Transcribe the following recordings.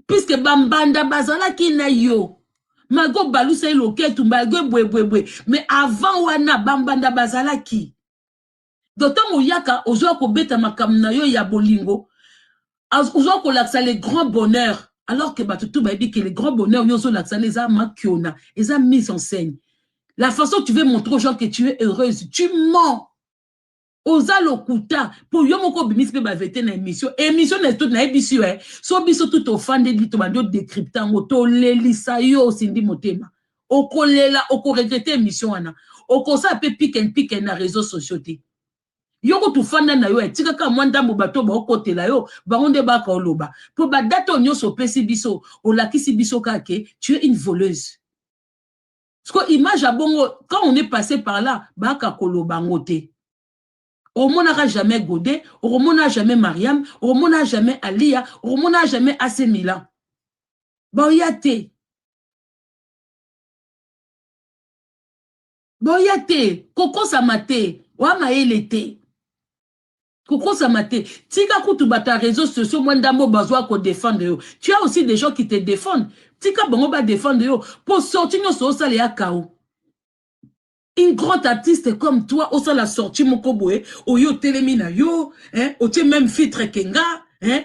puisque bambanda bazalaki na yo malgre obalusa ye loketu malgre bwebwebwe mais avant wana bambanda bazalaki donc ntango oyaka ozwa kobeta makambo na yo ya bolingo ozwa kolakisa le grand bonheur alors que bato tu bayebi ke le grand bonheur yo ozolakisa na eza makiona eza mise en scène la façon tu veux montrer aux gens que tu es heureuse tu mens oza lokuta mpo yo moko obimisi mpe bavete na émission émission na tout nayebisi yo eh, so biso tout ofandeli tobandi odecrypte yango tolelisa yo osindi motema okolela okoregrete émission wana okosala mpe piken piken na réseau sociaux te yo kutu ofanda na yo etikaka eh, mwa ndambo bato baokotela yo bango nde baka oloba mpo badate oyo nyonso opesi biso olakisi biso kaka ke tu es une voleuse siko image ya bongo quand on est passé par là baka koloba yango te omonaka jamais gode okomona jamais mariam okomona jamais aliya okomona jamais ase milan baoya te boya te kokosama te oya mayele te Kokosama te. Tika kutu bato ya reseaux sociaux mwa ndambo oyo bazoya ko defendre yo. Tu as aussi des gens qui te defendent. Tika bango ba defendre yo po sortie nionso osala eya chaos. Une grande artiste comme toi osala sortie moko boye oye otelemi na yo hein otie meme filtre que nga hein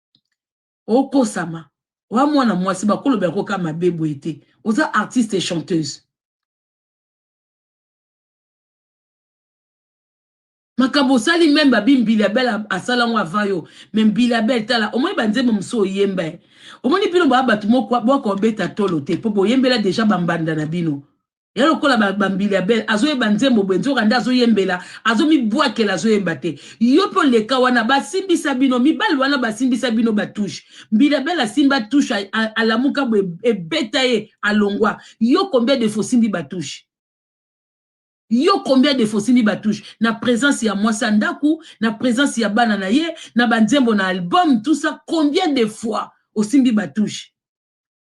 okosama wa mwana mwasi bakoloba yango kaka mabe boye te oza artiste et chanteuse makambo osali meme babi mbilabel asala yango avant yo me mbilabel tala omoni banzembo mosusu oyemba ye omoni bino baa bato moko bwaka obeta tolo te mpo boyembela deja bambanda na bino ya lokola bambili ya bele azoyeba nzembo boye nzoka nde azoyembela azomibwakela azoyemba te yo mpe oleka wana basimbisa bino mibali wana basimbisa bino batushe mbila bele asimba tushe alamuka boye ebeta ye alongwa yo combien de fois osimbi batushe yo combien de fois osimbi batushe na présence ya mwasi ya ndako na présence ya bana na ye na banzembo na album tout ça combien de fois osimbi batushe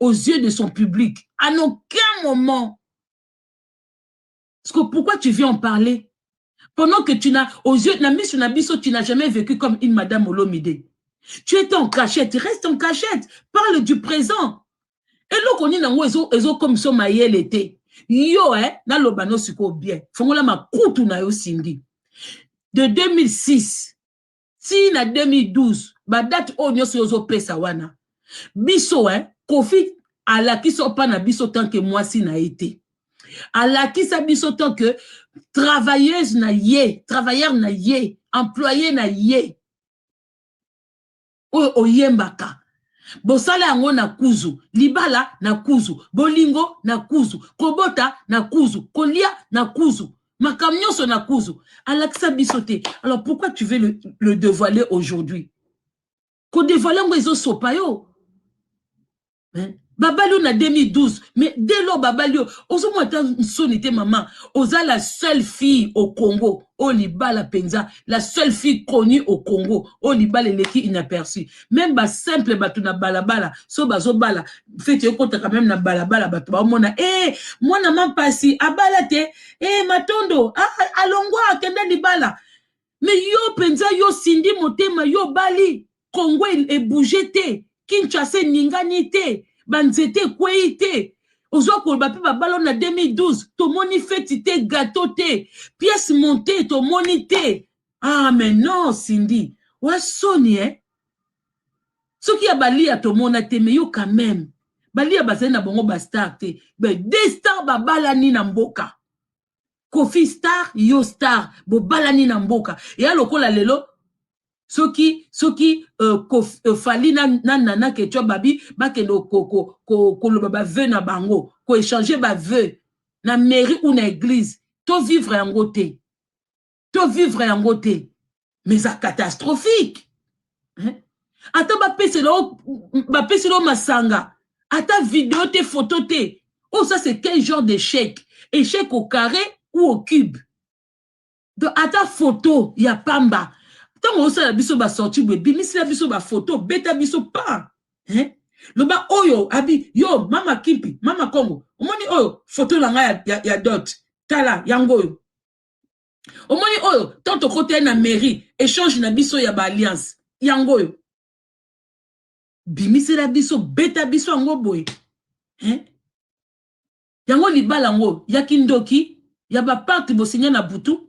aux yeux de son public à aucun moment que pourquoi tu viens en parler pendant que tu n'as aux yeux na misu na biso tu n'as jamais vécu comme une madame olomide tu étais en cachette reste en cachette parle du présent eloko nini yango ezokomisa mayele te yo eh, naloba no sikoyo bien fongola makutu na yo sindi de 2006 ti na 2012 ba date oyo nyonso ozo pesa wana biso hein kofi alakisa opa na biso tant que mwasi na ye te alakisa biso tant que travailleuse na ye travailleur na ye employé na ye oyo oyembaka bosala yango na kuzu libala na kuzu bolingo na kuzu kobota na kuzu kolia na kuzu makambo nyonso na kuzu alakisa biso te alors pourquoi tu veux le, le dévoiler aujourd'hui kodevoile yango ezosopa yo hein? babali yo na 2012 mais dès lors babali yo ozomona ata nsoni te mama oza la seule fille au congo oyo libala mpenza la seule fille connue au congo oyo libala eleki inaperçu meme ba simple bato na balabala so bazobala feti ekotaka meme na balabala bato baomona e eh, mwana mampasi abala te e eh, matondo ah, ah, alongwa akenda libala me yo mpenza yo sindi motema yo obali kongo e, ebouge te kinshasa eningani te banzete ekwei te oza koloba mpe babalo na 2012 tomoni feti te gato te pièce monte tomoni te ah mais non cindy oa soni eh soki ya balia tomona te mais yo quand même balia bazali na bango bastar te mais de star babalani na mboka kofi star yo star bobalani na mboka eya lokola lelo soki soki euh, kof, euh, fali na, na nana ketwa babi bakende koloba ko, ko, ko baveu na bango koechange baveu na mairie ou na église tovivre yango te to vivre yango te mais eza catastrophique hein? ata bapesela bapesela masanga ata video te photo te oh ça c'est quel genre d'échec échec au carré ou au cube donc ata photo ya pamba ntango osala biso basorti boye bimisela biso bafoto beta biso pa hein? loba oyo abi yo mama kimpi mama kongo omoni oyo foto na ngai ya, ya, ya dot tala yango oyo omoni oyo tant tokota ye na mairie échange na biso ya ba alliance yango oyo bimisela biso beta biso yango boye hein? yango libala yango ya kindoki ya baparte bosinya na butu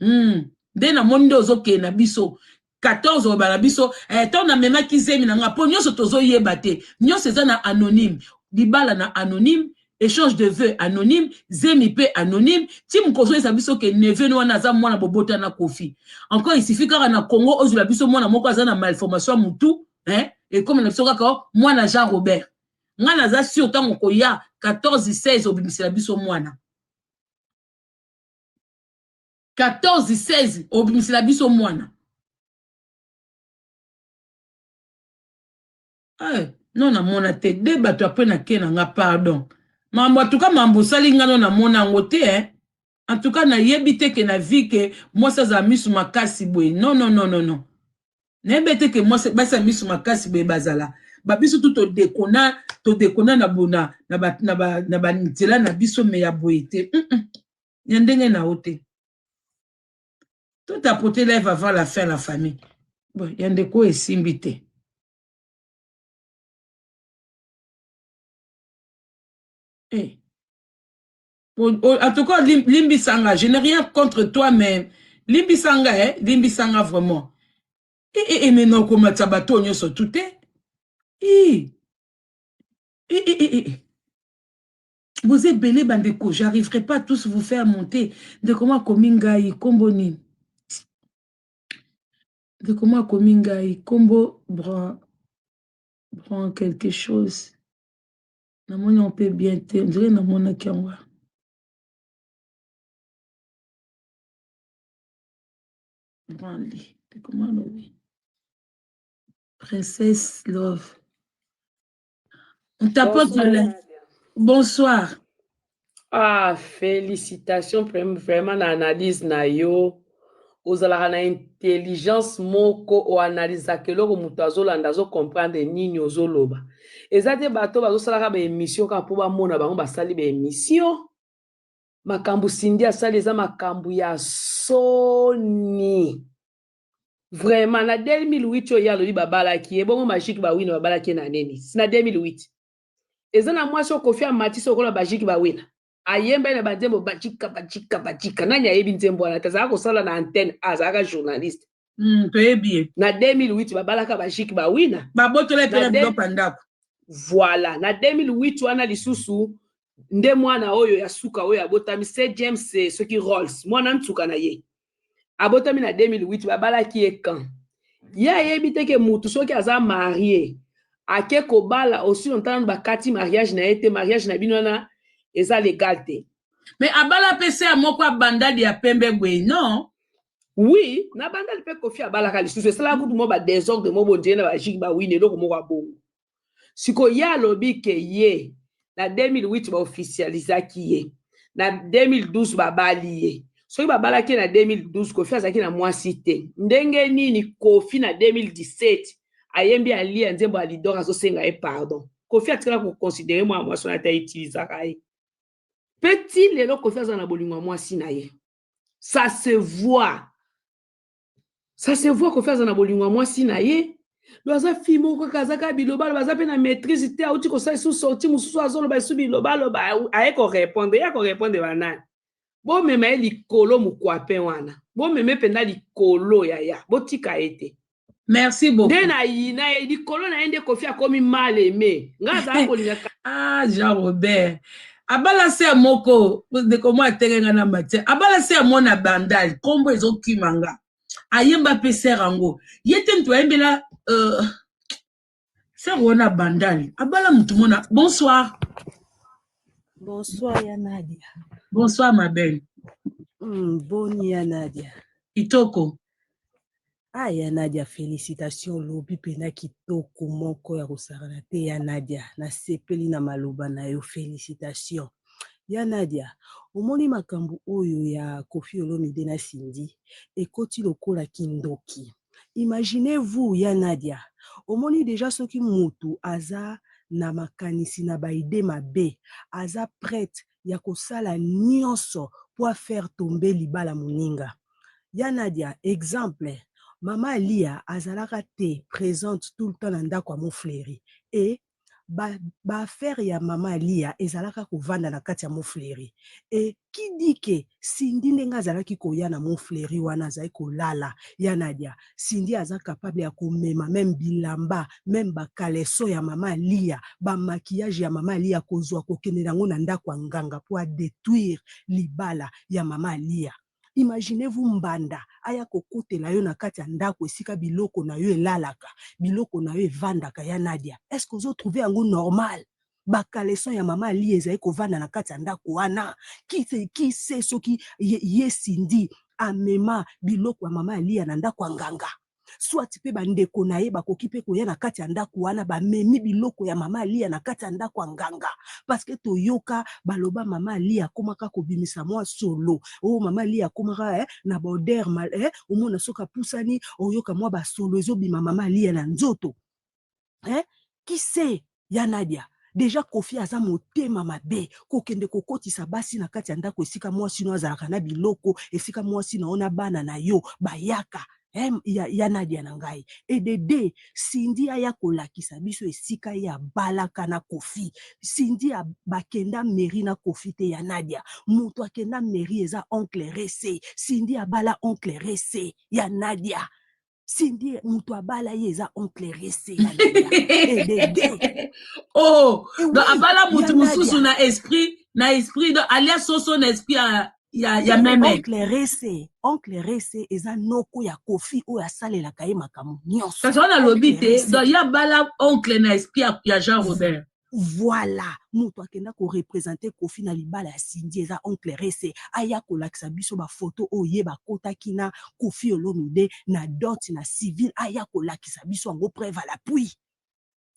hmm. nde namoni nde ozokee na biso 14 oloba na biso eh, ntango namemaki zemi na nga mpo nyonso tozoyeba te nyonso eza na anonyme libala na anonyme échange de vœux anonyme zemi mpe anonyme ti mokozoyesa biso ke neveu wana aza mwana bobota na kofi encore isifi kaka na congo ozwela biso mwana moko aza na malformation ya motu eh, ekomi na biso kaka oh, mwana jean robert ngai naza sur ntango koya 14 16 obimisela biso mwana 14 16 obimisela biso mwana hey, eh, no namona te de bato ya pena ke na nga pardon mambo atuka mambo osali nga no namona yango te eh? en tout cas nayebi te ke na vie ke mwasi azala misu makasi boye non non non non non nayebi te ke mwasi basi ya misu makasi boye bazala ba biso tu todekona todekona na bona na ba na ba na ba nzela na biso me ya boye te mm -mm. ya ndenge na yo te to tapote live avant la fin la famille bon ya ndeko esimbi te eh. en tout cas limbisa nga je n'ai rien contre toi mais limbisa nga eh limbisa nga vraiment e eh, e eh, eh, mais nakomatisa bato oyo nyonso tu te i i i i boza ebele bandeko j'arriverai pas tous vous faire monter ndeko mwa akomi ngai nkombo nini ndeko mwa akomi ngai nkombo bran bran quelque chose namoni yango mpe bien te ondire namonaki yango wana branle ekoma lobi princesse love on tapote le bonsoir Ah, félicitations vraiment na analyse na yo. Ozalaka na intelligence moko o analysaka eloko moto azolanda azo comprendre nini ozoloba. Eza te bato bazosalaka ba émission kaka mpo bamona bango basali ba émission. Makambo Cindy asali eza makambo ya soni. Vraiment na 2008 oyo ye alobi babalaki ye bongo magique bawina babalaki ye na nini? Na 2008. eza na mwasi oyo kofi amatisi lokola bajiki bawela ayemba ye na banzembo bajika bajika bajika nani ayebi nzembo wana te azalaka kosala na antenne azalaka journaliste Mm, toyebi ye na 2008 babalaka bajiki bawina babotola ye mpe Na na de- biloko ya ndako voilà na 2008 wana lisusu nde mwana oyo ya suka oyo abotami se james eh, soki rolls mwana nsuka na ye abotami na 2008 babalaki ye quand ye ayebi te ke mutu soki aza marie ake kobala osi lontanano bakati mariage na ye te mariage na bino wana eza legal te mais abala mpe se ya moko abandadi ya pembe boye non oui na bandali mpe kofi abalaka lisusu esalaka kutu mwa badesordre mobondiye na bajiki bawini eloko moko ya bongo siko ye alobi ke ye na 2008 ba officialisaki ye na 2012 babali ye soki babalaki ye na 2012 kofi azalaki na mwasi te ndenge nini kofi na 2017 ayembi alia nzembo ya lidor azosenga ye pardon kofi atikala koconsidere mwana mwasi wana ata utilisaka ye mpe ti lelo kofi aza na bolingo ya mwasi na ye ça se voit ça se voit kofi aza na bolingo ya mwasi na ye do aza fille moko kaka aza kaka bilobaloba aza mpe na maîtrise te auti kosala esu sorti mosusu azoloba esu bilobaloba aye korepondre ye akorepondre banani bomema ye likolo mokwapin wana bomeme mpenza likolo yaya botika ye te merci beaucoup nde nayina ye likolo na ye nde kofi akomi mal aime ngai azala kolingaka ah jean robert abala se ya moko ndeko mwa atenge nga na matière abala se ya mwana bandal nkombo ezokima nga ayemba mpe sere yango ye te moto ayembela uh, sere wana bandal abala moto mona bonsoir bonsoir ya nadia bonsoir ma belle mm, boni ya nadia kitoko Ah ya Nadia felicitations olobi pena kitoko moko ya kosakana te ya Nadia nasepeli na maloba na yo felicitations ya Nadia omoni makambu oyo ya Koffi Olomide na Cindy ekoti lokola kindoki imaginez vous ya Nadia omoni dejà soki mutu aza na makanisi na ba idee mabe aza prete ya kosala nionso po a faire tomber libala moninga. Ya Nadia exemple, mama Aliya azalaka te presente tout le temps na ndaku ya Mon Fleury et ba ba affaires ya mama Aliya ezalaka kovanda na kati ya Mon Fleury et qui dit que Cindy ndenge azalaki koya na mont fleuri wana azalaki kolala ya nadia cindy aza capable ya komema meme bilamba meme ba caleçon ya mama aliya ba maquillage ya mama aliya kozwa kokende na yango na ndako ya nganga mpo a detruire libala ya mama aliya imaginez vous mbanda aya kokotela yo na kati ya ndako esika biloko na yo elalaka biloko na yo evandaka ya nadia est ce que ozo trouve yango normal ba caleçon ya mama Aliya ezali kovanda na kati ya ndako wana kise soki ye Cindy amema biloko ya mama Aliya na ndako ya nganga soit pe bandeko na ye bakoki pe koya na kati ya ndako wana bamemi biloko ya mama Aliya na kati ya ndako ya nganga parce que toyoka baloba mama Aliya akomaka kobimisa mwa solo o oh, mama Aliya akomaka eh, na baoder mal eh, omona soki apusani oyoka mwa basolo ezobima mama Aliya na nzoto hein qui sait ya Nadia dejà Koffi aza motema mabe kokende kokotisa basi na kati ya ndako esika mwasi no azalaka na biloko esika mwasi na yo na bana na yo bayaka hein ya, ya Nadia na ngai et de deux Cindy aya kolakisa biso esika ye abalaka na Koffi Cindy a, bakenda mairie na Koffi te ya Nadia moto akenda mairie eza oncle Rese Cindy abala oncle Rese ya Nadia Cindy moto abala ye eza oncle rese oh donc abala moto mosusu na esprit na esprit donc alia soso na esprit ya ya, ya meme oncle rese oncle rese eza noko ya kofi oyo asalelaka ye makambo nyonso kasi wana alobi te donc ye abala oncle na esprit ya, ya jean robert Voila mutu akenda ko representer Koffi na libala ya Cindy eza oncle Rese aya kolakisa biso ba photos oyo ye bakotaki na Koffi Olomide na dot na civil aya kolakisa biso yango preuve à l'appui.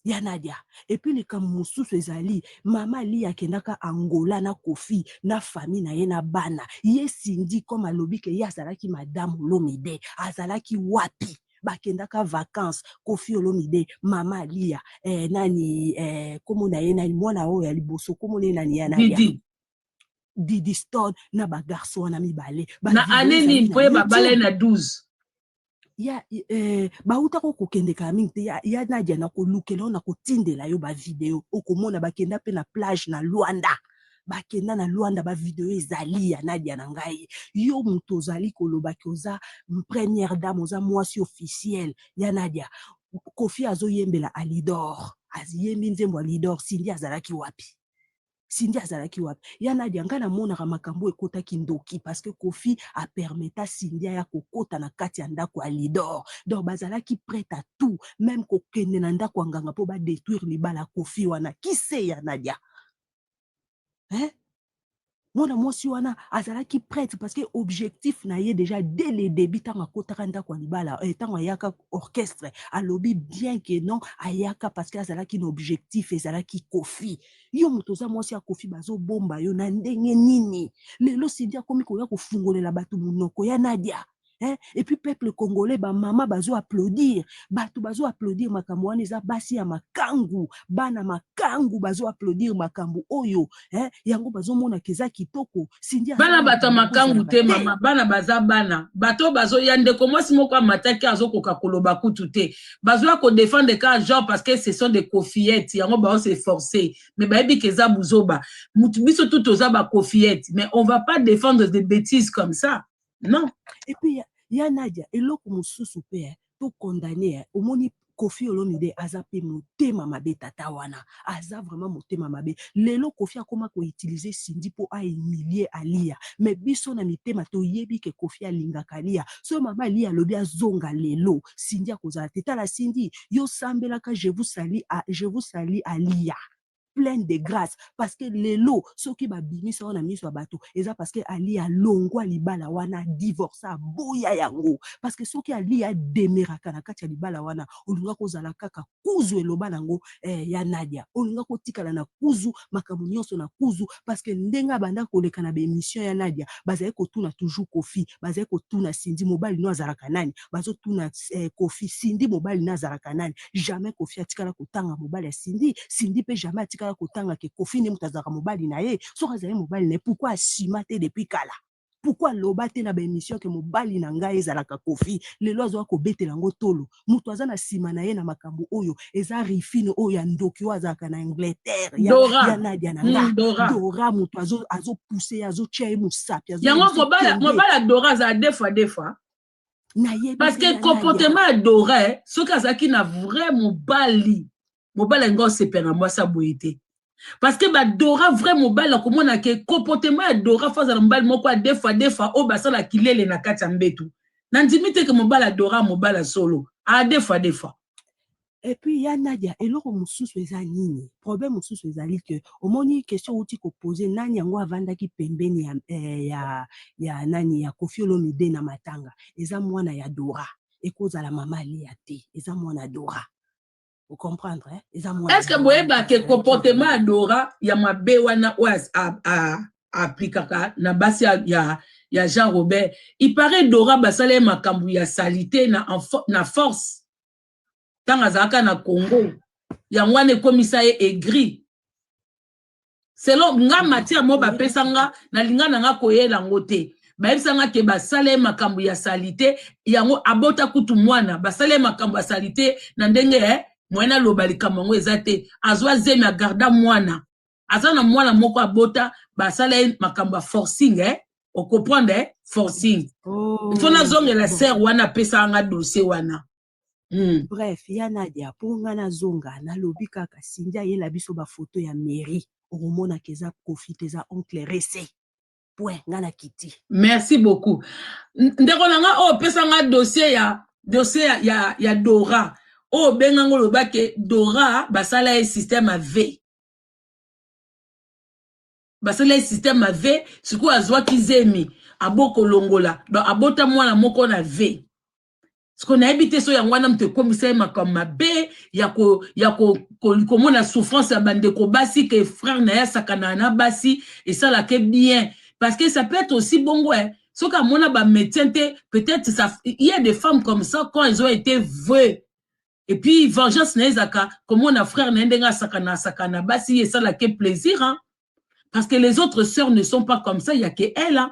Ya Nadia et puis likambo mosusu ezali mama Aliya akendaka Angola na Koffi na famille na ye na bana ye Cindy comme alobi que ye azalaki madame Olomide azalaki wapi? bakendaka vacances kofi olomide mama aliya eh, nani eh, komo na ye nani mwana oyo ya liboso komo na ye nani ya nani didi didi stone na bagarso wana mibale na ane nini mpo ye babala ye na 12 ya eh, bautaka okokendeka mingi te ya, ya nadia nakolukela yo nakotindela yo bavideo okomona bakenda mpe na plage na luanda bakenda na Luanda ba video ezali ya Nadia na ngai yo moto ozali koloba ke oza première dame oza mwasi officielle ya Nadia Koffi azoyembela Alidor aziyembi nzembo Alidor Cindy azalaki wapi Cindy azalaki wapi ya Nadia ngai namonaka makambo ekotaki ndoki parce que Koffi a permeta Cindy aya kokota na kati ya ndako ya Alidor donc bazalaki prête à tout même kokende na ndako ya nganga mpo ba détruire libala Koffi wana kise ya Nadia hein? mwana mwasi wana azalaki prêtre parce que objectif na ye déjà dès le début ntango akotaka ndako ya libala eh, ntango ayaka orchestre alobi bien que non ayaka parce que azalaki na objectif ezalaki kofi yo moto oza mwasi ya kofi bazobomba yo na ndenge nini lelo sindi akomi koya kofungolela bato monoko ya nadia Hein? Et puis peuple congolais, ba mama bazo applaudir, batu bazo applaudir makambo wana eza basi ya makangu, bana makangu bazo applaudir makambo oyo, hein? Yango bazo mona keza kitoko. Cindy bana bata makangu te mama, bana baza bana, bato bazo ya ndeko mwasi moko amataki azo koka koloba kutu te. Bazo ya ko défendre ka genre parce que ce sont des kofiettes, yango bazo se forcer, mais bayebi keza buzoba. Mutu biso tout oza ba kofiettes, mais on va pas défendre des bêtises comme ça. non et puis ya, ya Nadia eloko mususu pe eh, to condamne eh, omoni Koffi Olomide aza pe motema mabe tata wana aza vraiment motema mabe lelo Koffi akoma ko utiliser Cindy po a humilier Aliya mais biso na mitema toyebi ke Koffi alingaka Aliya soki mama Aliya alobi azonga lelo Cindy akozala te tala Cindy yo sambelaka je vous salis a je vous salis Aliya pleine de grâce parce que lelo soki babimisa wana miso ya bato eza parce que ali alongwa libala wana divorce aboya yango parce que soki ali ademeraka na kati ya libala wana olinga kozala kaka kuzu eloba nango eh, ya nadia olinga kotikala na kuzu makambo nyonso na kuzu parce que ndenge abanda koleka na baemission ya nadia bazali kotuna toujours kofi bazali kotuna sindi mobali no azalaka nani bazo tuna eh, kofi sindi mobali na azalaka nani jamais kofi atikala kotanga mobali ya sindi sindi mpe jamais atikala kotanga ke kofi nde moto azalaka mobali na ye soki azali mobali na ye pourkui asima te depuis kala pourkui aloba te na baémission ke mobali na ngai ezalaka kofi lelo azoya kobetela yango tolo moto aza na nsima na ye na makambo oyo eza rifine oyo ya ndoki oyo azalaka na angleterre ya, Dora. ya nadia na nga Mm, Dora. dora moto azo- azopuse ye azotya ye mosapi azo- yango azotia mobala ye. mobala dora azala defa defa parce que comportement ya dora eh, soki azalaki na vrai mobali mobali alinga osepela na mwasi ya boye te parce que badora vrai mobali akomona ke comportement ya dora fo azala mobali moko adefa defa oyo basala kilele na kati ya mbetu nandimi te ke mobali adora mobali ya solo adefa defa Et puis ya Nadia eloko mususu eza nini problème mususu ezali que omoni question owuti ko poser nani yango avandaki pembeni ya eh, ya ya nani ya Koffi Olomide na matanga eza mwana ya Dora ekozala mama Aliya te eza mwana Dora o comprendre eh? eza mwana Est-ce que boyeba que comportement ya Dora ya mabe wana oyo aplikaka na basi ya, ya, ya Jean Robert il paraît Dora basala ye makambo ya salite na, na force ntango azalaka na congo yango wana ekomisa ye aigri selon nga matière moko bapesa nga nalinga na nga koyela yango te bayebisa nga ke basala ye makambo ya salite yango abota kutu mwana basala ye makambo ya salite na ndenge eh, moyen aloba likambo yango eza te azwa zemi agarda mwana aza na mwana moko abota basala ye makambo ya forcing eh? ocomprendre eh? forcing oh, il faut nazongela bon. sere wana apesaka nga dossier wana Mm. bref ya nadia mpo nga nazonga nalobi kaka sindi ayela biso bafoto ya mairie okomonaka eza kofi te eza oncle rese point nga na kiti merci beaucoup ndeko na nga oyo pesa nga dossier ya dossier ya, ya, ya dora oyo benga ngo loba ke dora basala ye système ya v basala ye système ya v sikoyo azwaki zemi abokolongola donc abota mwana moko na v siko nayebi te so yango wana moto ekomisa ye makambo mabe ya komona ya ko, ko, ko, souffrance ya bandeko basi ke frère na ye asakanaka na basi esalaka bien parce que ça peut être aussi bongo eh. soki amona bamédecin te peut-être ça il y a des femmes comme ça quand elles ont été vues et puis vengeance na ye ezalaka komona frère na ye ndenge asakana asakana na basi ye esalaka plaisir hein? parce que les autres sœurs ne sont pas comme ça ya ke elle hein?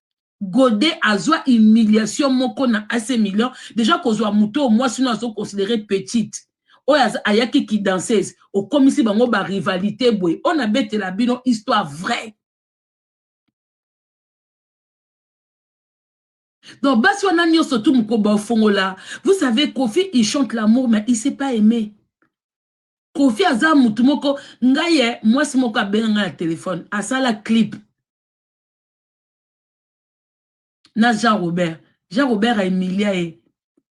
Gode azwa humiliation moko na AC Milan deja kozwa moto oyo mwasi no azo considere petite oyo ayaki ki danseuse okomisi bango ba rivalite boye oyo nabetela bino histoire vraie donc basi wana nyonso tu mokoba ofongola vous savez kofi il chante l'amour mais il s'est pas aimé kofi aza motu moko ngai ye mwasi moko abenga ngai na telefone asala clip na Jean Robert Jean Robert a humilia ye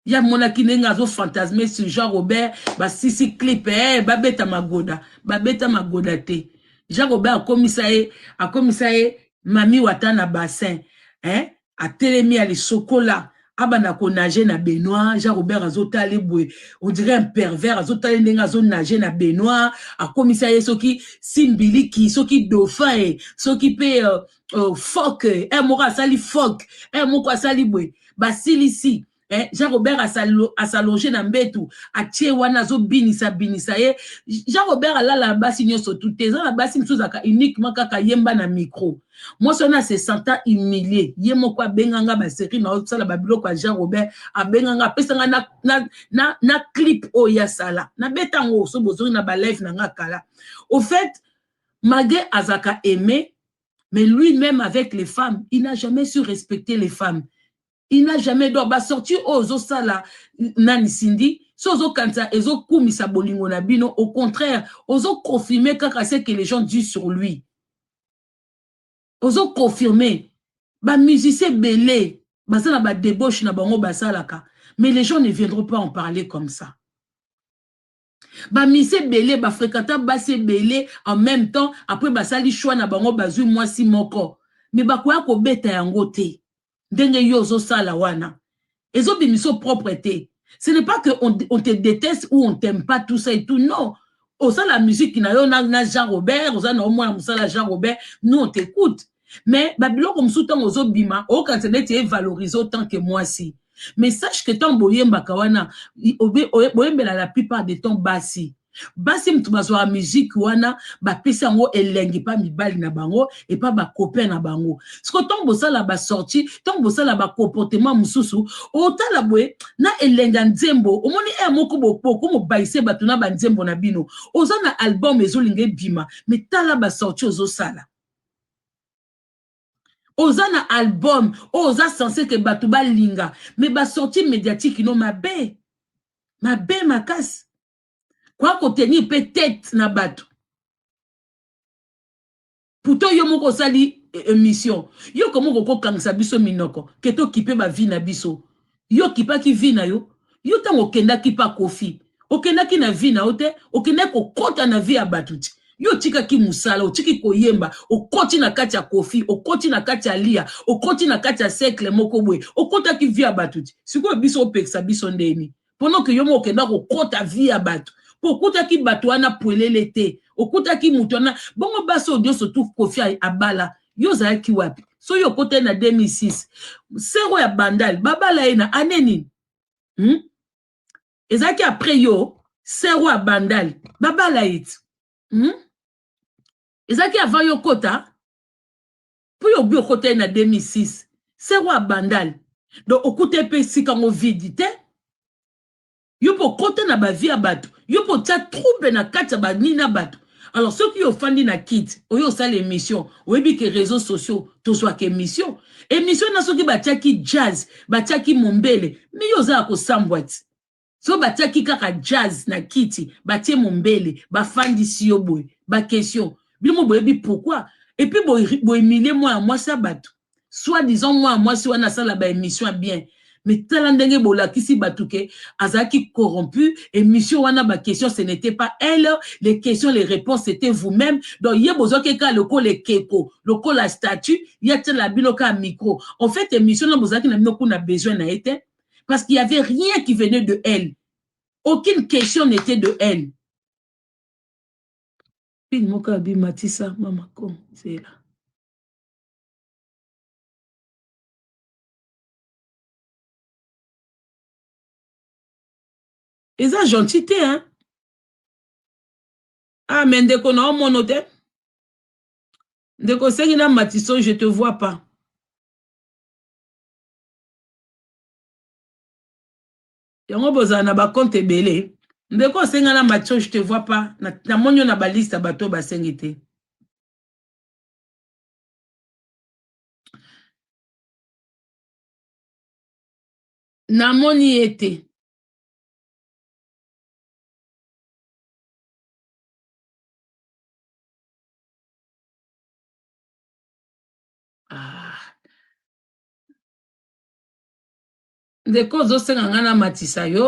ye amonaki ndenge azo fantasme sur Jean Robert basisi clip eh babeta magoda babeta magoda te Jean Robert akomisa ye akomisa ye mami wata na bassin eh atelemi alisokola abanda ko nager na baignoire jean robert azotala ye boye on dirait un pervers azotala ye ndenge azo nager na baignoire akomisa ye soki simbiliki soki dauphin e soki mpe uh, uh, fok e eh, moko asali fok e eh, moko asali boye basilisi Eh, jean robert asalonge na mbetu atie wana azobinisa binisa ye jean robert alala na basi nyonso tu te eza na basi mosusu ezalaka uniquement kaka yemba na micro mwasi wana se sentant humilie ye moko abenga nga baserie na osala babiloko ya jean robert abenga nga apesa nga na, na, na, na clip oyo ye asala nabeta yango so bozongi na balive na nga kala au fait malgré azalaka aime mais lui même avec les femmes il n'a jamais su respecter les femmes il n'a jamais donc basorti oyo oh, ozosala nani sindi so ozokanisa ezokumisa bolingo na bino au contraire ozoconfirme kaka ce que les gens disent sur lui ozo confirme ba musiciens ebele baza na ba debauche na bango basalaka mais les gens ne viendront pas en parler comme ça bamisi ebele bafrekata basi ebele en même temps après basali choix na bango bazwi mwasi moko me bakoya kobeta yango te ndenge yo ozo sala wana ezo bimiso propre te ce n'est pas que on, on te déteste ou on t'aime pas tout ça et tout non osala musique na yo na, na Jean Robert oza na yo mwana mosala Jean Robert nous on t'écoute mais babiloko mosusu ntango ozobima okanisa neti evalorize autant que mwasi mais sache que ntango boyembaka wana boyembela la plupart de temps basi basi moto bazwaka miziki wana bapesi yango elengi mpa mibali na bango epa bacopin na bango siko ntango bosala basorti ntango bosala bacomportema mosusu otala boye na elengi ya nzembo omoni ea moko bopoko mobaise bato na banzembo na bino oza na album ezolinga ebima mitala basorti ozosala oza na album oyo oza sense ke bato balinga me basorti mediatike no mabe mabe makasi koya kotenir mpe tete na bato pourtant yo moko osali eh, emission yo komoko kokangisa biso minoko ke tokipe bavie na biso Yo okipaki vie na yo, yo tango okendaki pa koffi okendaki na vie na yo te, okendaki kokota na vie ya batu ti yo otikaki musala, otiki koyemba, okoti na kati ya koffi, okoti na kati ya aliya, okoti na kati ya cercle moko boye, okotaki vie ya batu ti sikoyo biso opekisa biso ndenge nini? Pendant que yo moko okenda kokota vie ya batu po okutaki batu wana puelele te, okutaki mutu wana, bongo basi oyo nionso tout koffi abala yo ozalaki wapi soki okotali na 2006 sero ya bandal babala ye na ane nini hmm? ezalaki apres yo sero ya bandal babala ye ti hmm? ezalaki avant yo kota mpo yo obi okotali na 2006 sero ya bandal donc okuta mpe esika ngo vidi te yo mpe okota na ba vie ya bato yo mpe otia trouble na kati ya ba nini na bato alors soki yo ofandi na kiti oye osala emission oyebi ke reseaux sociaux tozwaka emission emission na soki batiaki jazz batiaki mombele mi yo oza ya kosambwa ti so batiaki kaka jazz na kiti batie mombele bafandisi yo boye ba question bino boyebi pourquoi epuis boemilie mwana mwasi ya bato soit disant mwana mwasi wana asala ba emission ya bien mais tala ndenge bolakisi bato ke azalaki corrompu emission wana ba question ce n'était pas elle les questions les réponses c'était vous-même donc ye bozwaki kaka lokola ekeko lokola statut ye atiala bino kaka micro en fait emission na bozalaki na bino kuna besoin na ye te parce qu'il y avait rien qui venait de elle aucune question n'était de elle pin moko abimatisa mama kom zela eza gentil te hein ah mais ndeko na omono te ndeko sengi na matiso je te vois pas yango bozala na bakonte ebele ndeko osenga na matio je te vois pas namoni yo na baliste ya bato oyo basengi te namoni ye te ah. ndeko ozosenga ngai namatisa yo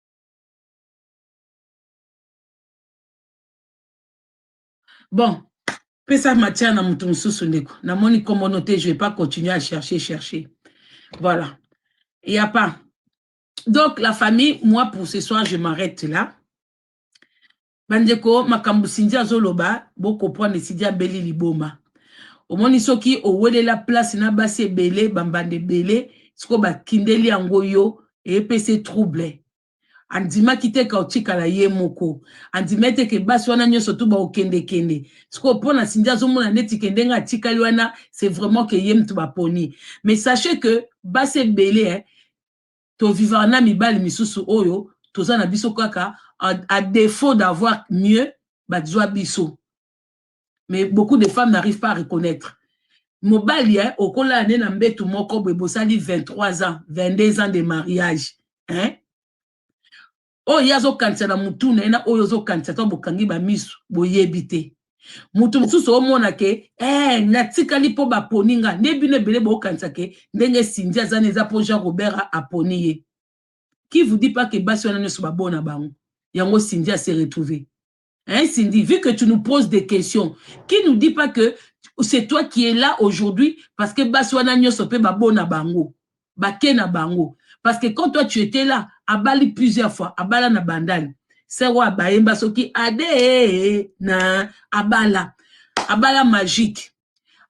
bon pesa matière na moto mosusu ndeko namoni komono te je vais pas continuer à chercher chercher voilà il y a pas donc la famille moi pour ce soir je m'arrête là Bandeko makambo Cindy azoloba bo comprendre Cindy abeli liboma. Omoni soki owelela place na basi ebele bambanda ebele siko bakindeli yango yo epese trouble. Andimaki te ka otikala ye moko. Andimaki te ke basi wana nyonso tu baokende kende. Siko mpo na Cindy azomona neti ke ndenge atikali wana c'est vraiment ke ye mtu baponi. Mais sachez que basi ebele eh, to vivaka na mibali misusu oyo toza na biso kaka a defaut d'avoir mieux ba zwa biso mais beaucoup de femmes n'arrivent pas à reconnaître mobali hein okola ne na mbetu moko boye bosali 23 ans 22 ans de mariage hein oyo ye azokanisa na mutu na ye na oyo ozokanisa to bokangi bamisu boyebi te moto mosusu omona ke eh, natikali mpo baponi nga nde bino ebele bokanisa ke ndenge sindi aza na eza mpo jean robert aponi ye qui vous dit pas ke basi wana nyonso babona bango yango sindi ase retrouve Hein, Cindy, vu que tu nous poses des questions, qui nous dit pas que c'est toi qui es là aujourd'hui parce que Baswana Nyoso pe Babona Bango, Bakena Bango. Parce que quand toi tu étais là, à Bali plusieurs fois, à Bala na Bandal, c'est roi Baemba Soki Ade na Abala, Abala magique.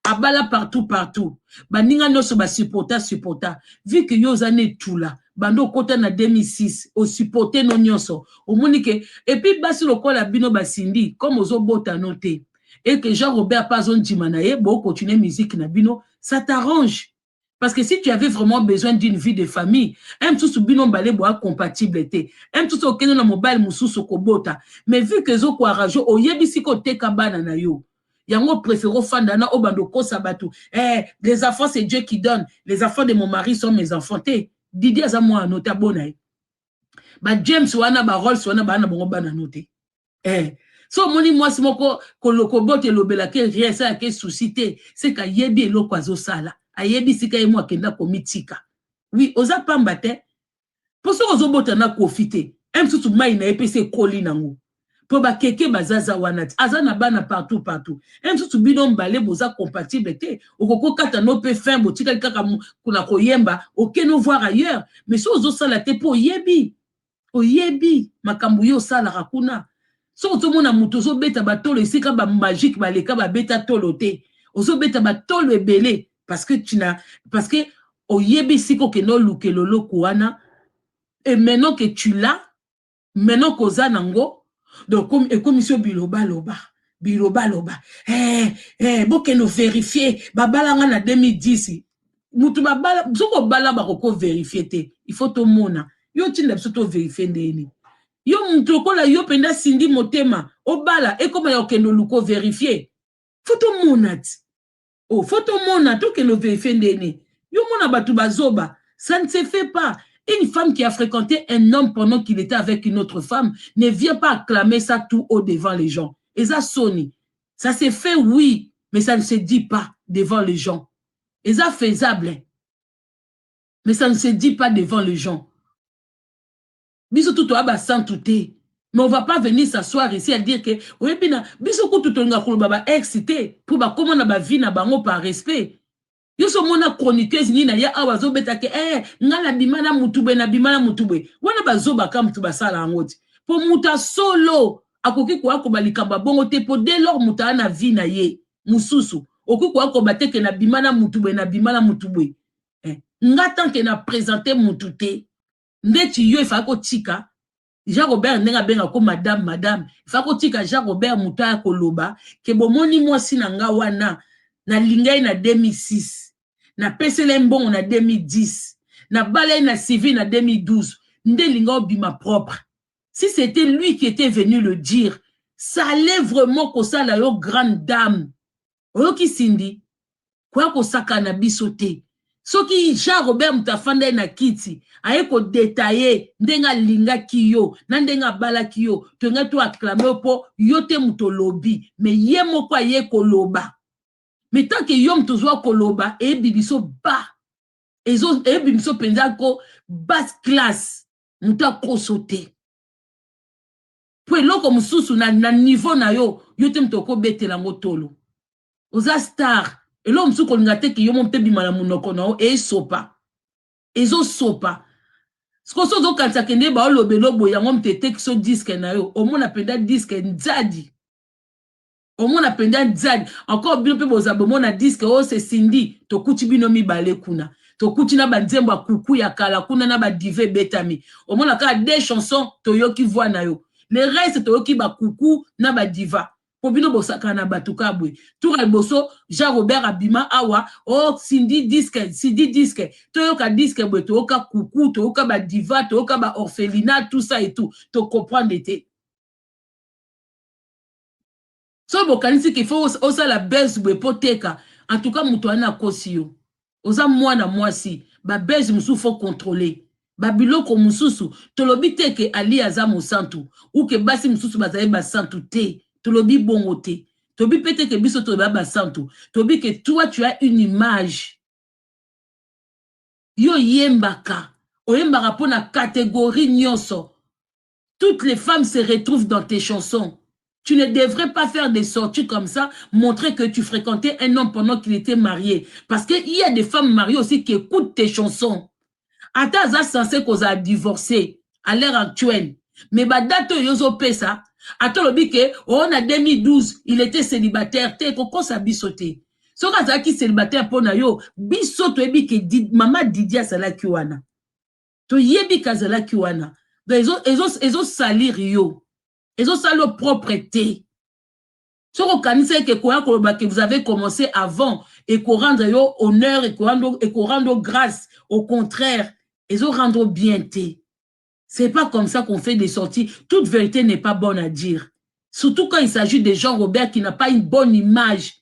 abala partout partout baninga nionso ba supporta supporta vu que yo oza ne tula banda okota na 2006 o supporte no nionso omoni ke et puis basi lokola bino ba Cindy comme ozo bota no te et que Jean Robert pe azo ndima na ye bo continuer musique na bino ça t'arrange Parce que si tu avais vraiment besoin d'une vie de famille, un tout bino mbale boa compatible été. Un tout au keno na mobile mususu kobota. Mais vu que zo kwa rajo au yebisi ko teka bana na yo. Yango préféro fanda na obando kosa batu. Eh, les enfants c'est Dieu qui donne. Les enfants de mon mari sont mes enfants. Te, Didier aza mwana no ta bona. Ba James wana ba Rolls wana ba na bongo bana no te. eh. so omoni mwasi moko kolokobota elobela ke rien esala ke souci te seke ayebi eloko azosala ayebi sika ye mo akenda komitika wi oza pamba te mpo soki ozobota na kofi te e mosusu mai na ye mpe se ekoli nango mpo bakeke bazaza wana ti aza na bana partout partout e mosusu bino mbale boza compatible te okoki okata no mpe fin botikali kaka na koyemba okeno voir ailleurs mais so ozosala te mpo oyebi oyebi makambo yo osalaka kuna soki ozomona moto ozobeta batolo esika bamagike baleka babeta tolo te ozobeta batolo ebele parceke tina parceke oyebi esika okende olukela oloko wana e maintenant ke tu la maintenant koza nango donc ekomisi yo bilobaloba bilobaloba hey, eh, eh, hey, bokende overifie babalanga na 2010 mutu babala soki obala bako ko verifie te il faut tomona yo otinda biso to verifie ndenge nini yo mutu lokola yo mpenza sindi motema obala ekoma ya okende oluka overifie fo tomona ti o oh, fo tomona tokende overifie ndenge nini yo mona bato bazoba ça ne se fait pas une femme qui a fréquenté un homme pendant qu'il était avec une autre femme ne vient pas acclamer ça tout haut devant les gens eza soni ça se fait oui mais ça ne se dit pas devant les gens eza faisable mais ça ne se dit pas devant les gens biso tout toya basantu te mais on va pas venir s'asseoir ici à dire que oyebi na biso kutu tolinga koloba ba ex te mpo bakoma na bavie na bango par respect yo so omona chroniqueuse nini aya awa azobeta ke ee eh, ngai nabima na motu boye nabima na motu boye wana bazobaka motu basala yango ti mpo motu ya solo akoki koya koba likambo ya bongo te mpo de lor moto aya na vie na ye mususu okoki koya koba te ke na bima na mutu boye na bima na mutu boye eh. nga tant ke na presente mutu te ndeti yo efaki kotika jean robert ndenge abenga ko madame madame efaki kotika jean robert moto aya koloba ke bomoni mwasi na nga wana nalinga ye na 2006 napesela ye mbongo na 2010 nabala ye na civil na 2012 nde linga obima propre si c'etait lui qui etait venu le dire ça allait vraiment kosala yo grande dame oyoki Cindy koya kosaka na biso te soki Jean Robert moto afanda ye na kiti aye kodetaye ndenge alingaki yo na ndenge abalaki yo tolingai to aklame yo mpo yo te moto olobi me ye moko aye koloba me tant ke yo moto ozwa koloba eyebi biso ba eyebi biso mpenza ko basse classe moto akoso te mpo eloko mosusu na, na niveau na yo yo te moto okobetela yango tolo oza star eloko mosusu kolinga te ke yo mo mpe bima na monoko na yo esopa ezosopa sikoyo so ozokanisa kende baolobela oboye yango moto etekiso diske na yo omona mpenza diske nzadi omona penza Diane encore bino pe boza bomona disque oh c'est Cindy tokuti bino mibale kuna tokuti na ba nzembo ya kuku ya kala kuna na ba diva ebetami omona kaka deux chansons toyoki voix na yo le reste toyoki ba kuku na ba diva po bino bosakana na bato kaka boye tour ya liboso jean robert abima awa o oh, sindi diske sidi diske toyoka diske boye toyoka kuku toyoka badiva toyoka baorphelina tout ça et tout tocomprendre te soki bokanisi ke faut osala buzz boye po teka en tout cas moto wana akosi yo oza mwana mwasi ba buzz mosusu faut controler ba biloko mosusu tolobi te ke Aliya aza mosantu ou ke basi mosusu bazali basantu te tolobi bongo te tobi pe te ke biso toza basantu tobi ke toi tu as une image yo oyembaka oyembaka mpo na categorie nyonso Toutes les femmes se retrouvent dans tes chansons. Tu ne devrais pas faire des sorties comme ça, montrer que tu frequentais un homme pendant qu'il etait marier. Parce que il y a des femmes mariées aussi qui ecoutent tes chansons. Ata aza censé koza divorcer à l'heure actuelle. Mais ba date oyo ozo pesa, ata olobi que oh na 2012 il était célibataire te kokosa biso te. Soki azalaki célibataire mpo na yo, biso toyebi que Did, mama Didi azalaki wana. toyebi ke azalaki wana donc ezo ezo ezo salir yo ezo sala yo propre te soki okanisaki ke koya koloba ke vous avez commencé avant ekorendre yo honneur ekorendre yo grâce au contraire ezo rendre yo bien te c'est pas comme ça qu'on fait des sorties toute vérité n'est pas bonne à dire surtout quand il s'agit de Jean Robert qui n'a pas une bonne image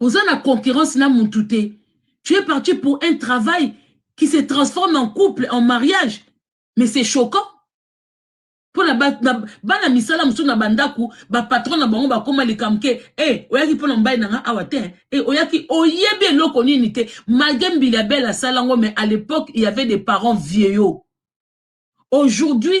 oza na concurrence na mutu te tu es parti pour un travail qui se transforme en couple en mariage mais c'est choquant mpo na bana misala mosusu na bandako bapatron na bango bakóma likambo ke e oyaki mpo na mobali na ngai awa te e oyaki oyebi eloko nini te malgre mbili abele asala yango mais à l'époque il y avait des parents vieillots aujourd'hui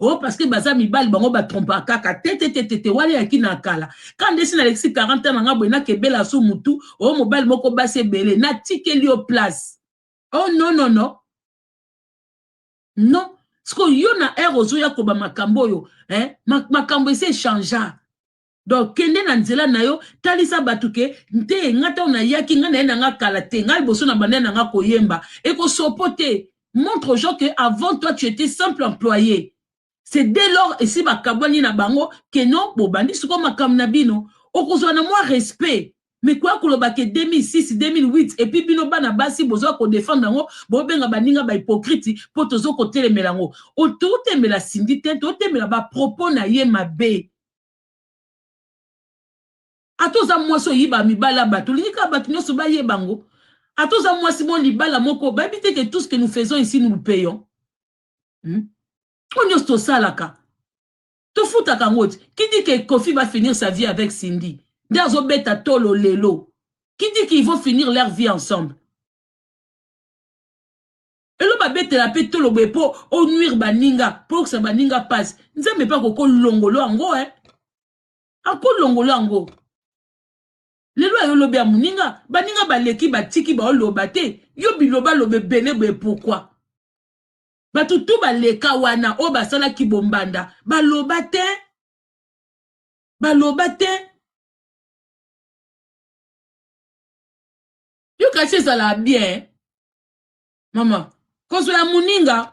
o oh, parceke baza mibali bango batrompa kaka tetetetete wale yaki na kala ka ndesi nalekisi 40 ans na nga boye nakebela so mutu o oh, mobali moko basi ebele natikeli yo place o oh, non non non non sikoyo yo na heure ozoya koba makambo oyo eh, makambo esi echangea donc kende na nzela na yo talisa bato ke nte nga ntango nayaki nga naye na nga kala te nga liboso na banda na nga koyemba ekosopo te montre aux gens que avant toi tu étais simple employé c'est dès lors esi bakabwani na bango ke non bobandi sikoyo makambo na bino okozwa na mwa respect mais koya koloba ke 2006 2008 et puis bino bana basi bozoya kodefendre yango bobenga baninga bahypokrite mpo tozo kotelemela yango totemela sindi te totemela bapropos na ye mabe ata oza mwasi oyiba mibali ya bato olingi kaka bato nyonso bayeba yango ata oza mwasi mo libala moko bayebi te ke tout ce que nous faisons ici nous le payons hmm? oyo nyonso tosalaka tofutaka yango ti qui dit que kofi va finir sa vie avec cindy nde azobeta tolo lelo qui dit qu'ils vont finir leur vie ensemble elo babetela pe tolo boye po o nuire baninga po yokisa baninga pasi nzambe pe akoki olongolo yango eh akolongolo yango lelo ayo lobi ya moninga baninga baleki batiki baoloba te yo bilobaloba ebele boye pourkui bato tu baleka wana oyo basala kibombanda baloba te baloba te yo kasi ezalaka bien mama kozwa ya moninga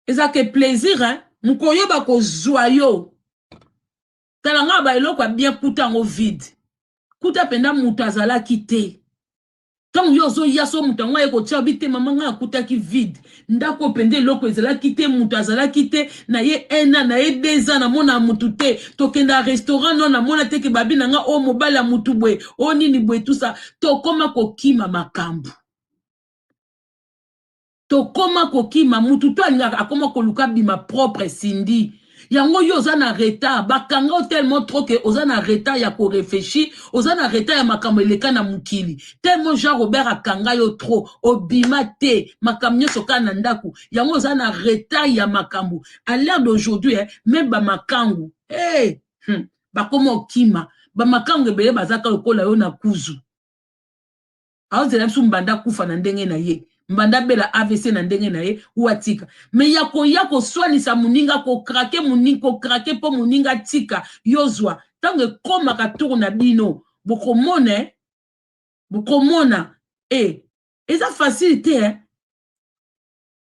ezalaka e plaisir hein mokolo yo bakozwa yo tala nga ba eloko ya bien kuta yango vide kuta mpenza moto azalaki te ntango yo ozoya so moto yango aye kotya obi te mama ngai akutaki vide ndako mpenza eloko ezalaki te moto azalaki te na ye ena na ye deux ans namona motu te tokenda restaurant no namona te ke babi na ngai o oh, mobali ya motu boye o oh, nini boye tusa tokoma kokima makambo tokoma kokima mutu to alingaka akoma koluka bima propre Cindy yango yo oza na retard bakanga yo tellement trop que oza na retard ya ko reflechir oza na retard ya makambo eleka na mokili tellement Jean Robert akanga yo trop obima te makambo nionso kaka na ndaku yango oza na retard ya makambo à l'heure d'aujourd'hui eh, meme ba makangu hey, hmm, bakoma okima ba makangu ebele baza kaka lokola yo na kuzu azela biso mbanda akufa na ndenge na ye mbanda abela avc na ndenge na ye ou atika me ya koya koswanisa moninga kokrake moninga kokrake mpo moninga atika yo zwa ntango ekomaka tour na bino bokomona eh? bokomona e eh, eza facile te eh?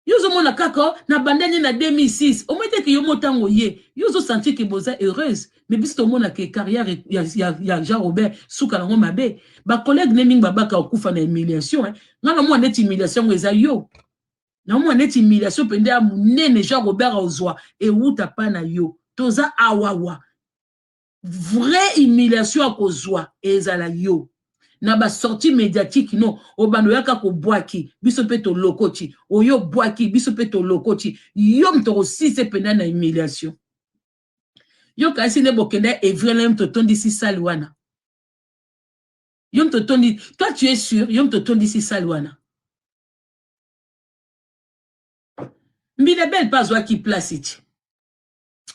yo ozomona kaka nabanda nde na 2006 omoi te ke yo motango ye yo ozosentir ke boza heureuse mais biso tomona ke carrière e, ya, ya, ya jean robert suka nango mabe bacollègue ne mingi babaka okufa na humiliation eh. ngai namona neti humiliation yango eza yo namona neti humiliation mpenza ya monene jean robert ozwa ewuta pa na yo toza awawa vrai humiliation ya kozwa ezala yo na ba sortie mediatique no obanda oyaka kobwaki biso mpe tolokoti oyo obwaki biso mpe tolokoti yo moto okosise mpenza na humiliation yo kasi nde bokenda evrela yo moto otondisi sale wana yo moto otondi toi tu es sur yo moto otondisi sale wana mbinebele mpe azwaki place ti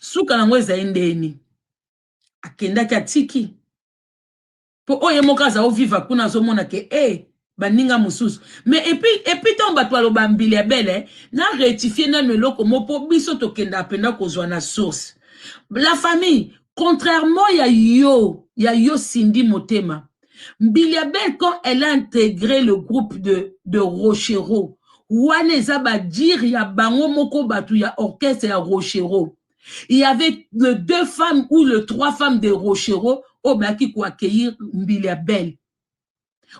suka na yango ezali ndeni akendaki atiki mpo oyo ye moko aza oviva kuna azomona ke e eh, baninga mosusu mais epuis epuis ntango bato baloba mbili ya bele na rectifie nano eloko mo mpo biso tokendaka mpenza kozwa na source la famille contrairement ya yo ya yo sindi motema mbiliabel quand elle a integre le groupe de, de rochero wana eza badire ya bango moko bato ya orchestre ya rochero il y avait le deux femmes ou le trois femmes de rochero oyo bayaki koaccueillir mbiliabel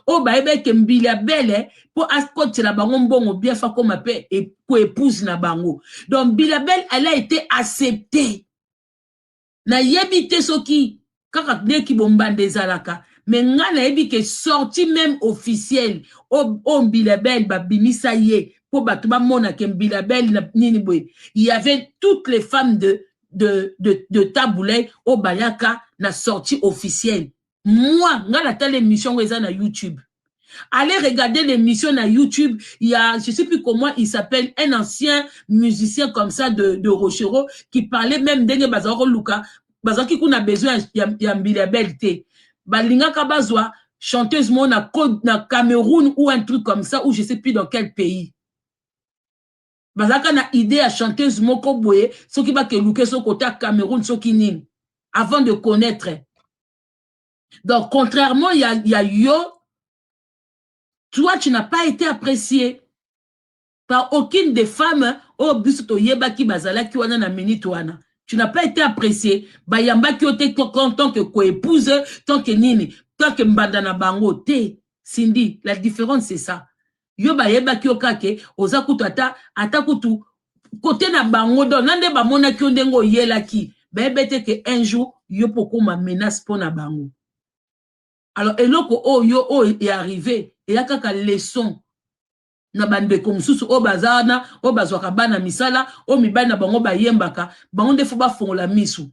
oyo bayebaki ke mbiliabel eh, mpo akotela bango mbongo bien fa koma mpe e, koepouse na bango donc mbiliabel elle a été acceptée nayebi te soki kaka nde kibombanda ezalaka me nga nayebi ke sorti meme officiel o, o mbilabel babimisa ye mpo bato bamona ke mbilabel na nini boye y avait toutes les femmes de, de, de, de tabuley oyo bayaka na sorti officiel moi nga natala émission yango eza na youtube allez regarder l'émission na youtube il y a je sais plus comment il s'appelle un ancien musicien comme ça de, de rochereau qui parlait même ndenge bazalaki koluka bazalaki kuna besoin ya, ya mbili ya belle te balingaka bazwa chanteuse moko na, na cameroun ou un truc comme ça ou je sais plus dans quel pays bazalaka na idee ya chanteuse moko boye soki bakeluke soki kota cameroun soki nini avant de connaître donc contrairement ya, ya yo toi tu n'as pas été apprécié par aucune des femmes oyo oh, biso toyebaki bazalaki wana na minute wana tu n'as pas été apprécié bayambaki yo te tant que koépouse tant que nini tant que mbanda na bango te cindy la différence c'est ça yo bayebaki yo kaka ke oza kutu ata ata kutu kote na bango donc na nde bamonaki yo ndenge oyelaki bayebe te ke un jour yo mpo okoma menace mpo na bango alors eloko oyo yo oyo earrive eya kaka leçon na bandeko mosusu oyo baza wana oyo bazwaka bana misala oyo mibali na bango bayembaka bango nde fo bafongola misu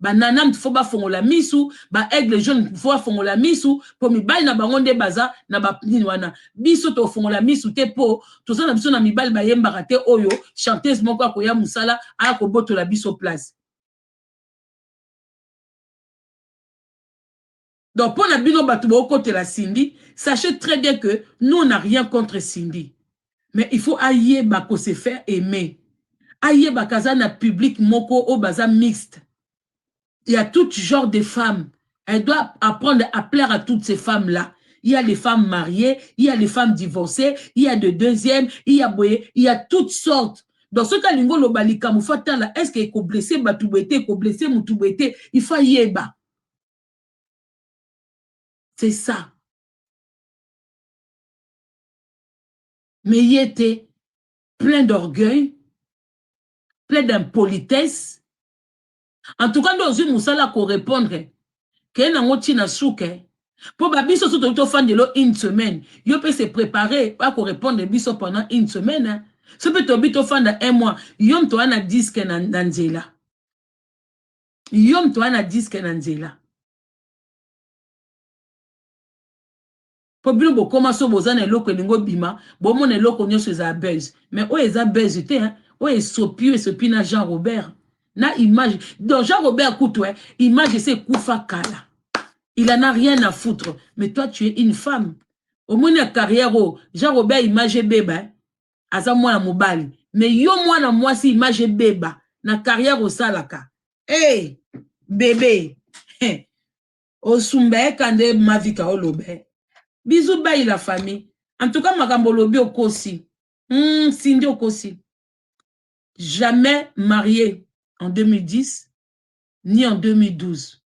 ba nanamd faut bafongola misu ba aigle jaune faut bafongola misu po mibali na bango nde baza na ba nini wana biso tofongola misu te po toza na biso na mibali bayembaka te oyo chanteuse moko akoya mosala aya kobotola biso place donc pona bino batu bokotela Cindy sachez très bien que nous on a rien contre Cindy mais il faut ayeba ko se faire aimer ayeba kaza na public moko oyo baza mixte il y a tout genre de femmes elle doit apprendre à plaire à toutes ces femmes là il y a les femmes mariées il y a les femmes divorcées il y a de deuxième il y a boye il y a toutes sortes donc soki alingi oloba likambo fo atala est ce que ekoblesse bato boye te ekoblesse motu boye te il faut ayeba c'est ça mais ye te plein d'orgueil plein d'impolitesse en tout cas nde ozwi mosala korepondre keye nango ntina suke mpo babiso so toki tofandelo une semaine yo mpe se prépare bakorepondre biso pendant une semaine so mpe tobi tofanda un mois yo mto wana diske na, na nzela yo moto oya na diske na nzela mpo bino bokoma so boza na eloko elingi obima bomona eloko nyonso ezala buzz mais oyo eza buzz te hein? oyo esopi oyo esopi na jean robert na image donc jean robert kutu eh, image ese ekufa kala il en a rien à foutre mais toi tu es une femme omoni ya carrière oyo jean robert image ebeba eh? aza mwana mobali mais yo mwana mwasi image ebeba na carrière osalaka hey, bebe osumba eka nde mavika olobe bizu bayi la famille en tout cas makambo olobi okosi mm, sindi okosi jamais marié en 2010 ni en 2012